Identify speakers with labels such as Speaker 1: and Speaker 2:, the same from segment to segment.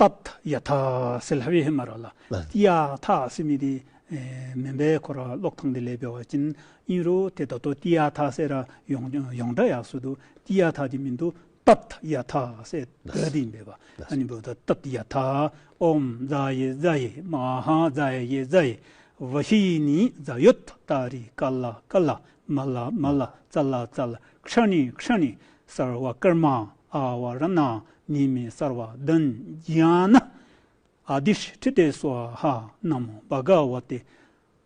Speaker 1: ཏཱ་ཐ་ཡ་དྷ་སེ་ལྷ་བྷེ་མ་ར་ལ་ཡ་དྷ་སེ་མི་དེ་མེན་པའི་འཁོར་བ་གློག་ཐང་དེ་ལས་བེ་བ་ཅིན་ཨིན་རོ་དེ་ད་དོ་ཏི་ཡ་དྷ་སེ་ར་ཡོང་ཡོང་དྲ་ཡག་སུ་དུ་ཏི་ཡ་དྷ་དེ་མི་འདུ་ཏཱ་ཐ་ཡ་དྷ་སེ་བེ་དེ་བེ་བ་ཨ་ནི་བོ་ད་ཏཱ་ཏི་ཡ་དྷ་ཨོམ་བཛྲ་ཡེ་བཛྲ་ཡེ་མ་ཧཱ་བཛྲ་ཡེ་བཛྲ་ཡེ་བྷ་ཤི་ནི་བཛྲ་ཡོད་ཏཱ་རི་ཀ་ལ་ཀ་ལ་མ་ལ་མ་ལ་རྩ་ལ་རྩ་ལ་ཁྲག་ནི་ཁྲག་ནི་སར་བ་ཀརྨ་ཨ་བ་ར་ན་ནི་མི་སར་བ་དོན་གྱིས་ན་ཨ་དི་ཤྲི་ཏི་ཏའི་སུ་ཨ་ཧ་ན་མོ་བ་ག་བ་ཏི་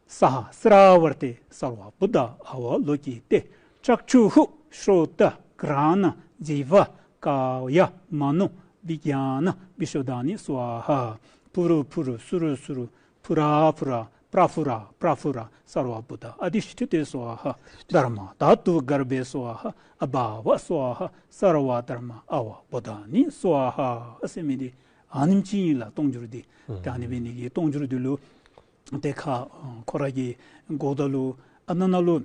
Speaker 1: ས་ཧ་སི་ར་བ་ར་ཏི་སར་བ་བུ་ད་ཨ་བ་ལོ་ཀྱི་ཏི་ལྕགས་ཆུ་ཧུ་ཧྲུ་ཏ་ཀི་ར་ན་ཛི་བ་ཀ་ཡ་མ་ནོ་བི་ག་ན་བི་ཤོ་ད་ནི་སུ་ཨ་ཧ་བུ་རུ་བུ་རུ་སུ་རུ་སུ་རུ་བྷུ་ར་བྷུ་ར་པྲ་བྷུ་ར་པྲ་བྷུ་ར་སར་བ་བྷུ་ད་ཨ་དྷི་ཤི་ཏི་ཏི་སོ་ཨ་ཧ་དྷར་མ་དྷ་ཏུ་གར་བྷེ་སོ་ཨ་ཧ་ཨ་བྷ་བྷ་སོ་ཨ་ཧ་སར་བ་དྷར་མ་ཨ་བྷ་བྷུ་ད་ནི་སོ་ཨ་ཧ་སེ་མི་ཏི་ཨ་ནིམ་ཅི་ཡིན་ལ་སྟོང་འགྱུར་ཏི་ཏཱ་ནི་བི་ནི་ཀི་སྟོང་འགྱུར་ཏི་ལུ་ཏེ་ཁ་ཁོ་ར་ཀི་འགོག་ཏཱ་ལུ་ཨ་ན་ན་ལུ།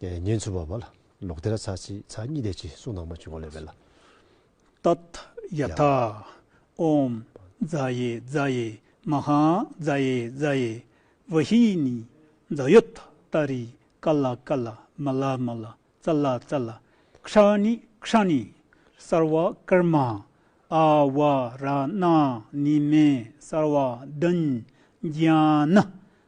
Speaker 2: ཉེན་ཚུལ་བ་བ་ལ་ལོག་སྡེ་ར་ཚ་ཚི་ཚ་གཉིས་སྡེ་གཅིག་གསུང་ནང་མ་བྱུང་བ་ལས་བས་ལ།
Speaker 1: ཏཏ། ཡ་ཐ། ཨོམ། རྫ་ཡེ་རྫ་ཡེ་མ་ཧཱ་རྫ་ཡེ་རྫ་ཡེ་བྷ་ཧི་ནི། རྫ་ཡོ་ཐ་ཏ་རི་ཀ་ལ་ཀ་ལ་མ་ལ་མ་ལ་ཙ་ལ་ཙ་ལ་ཁྲ་ནི་ཁྲ་ནི། སར་བ་ཀར་མ། ཨ་བ་ར་ན་ནི་མེ་སར་བ་དན། རྒྱ་ནི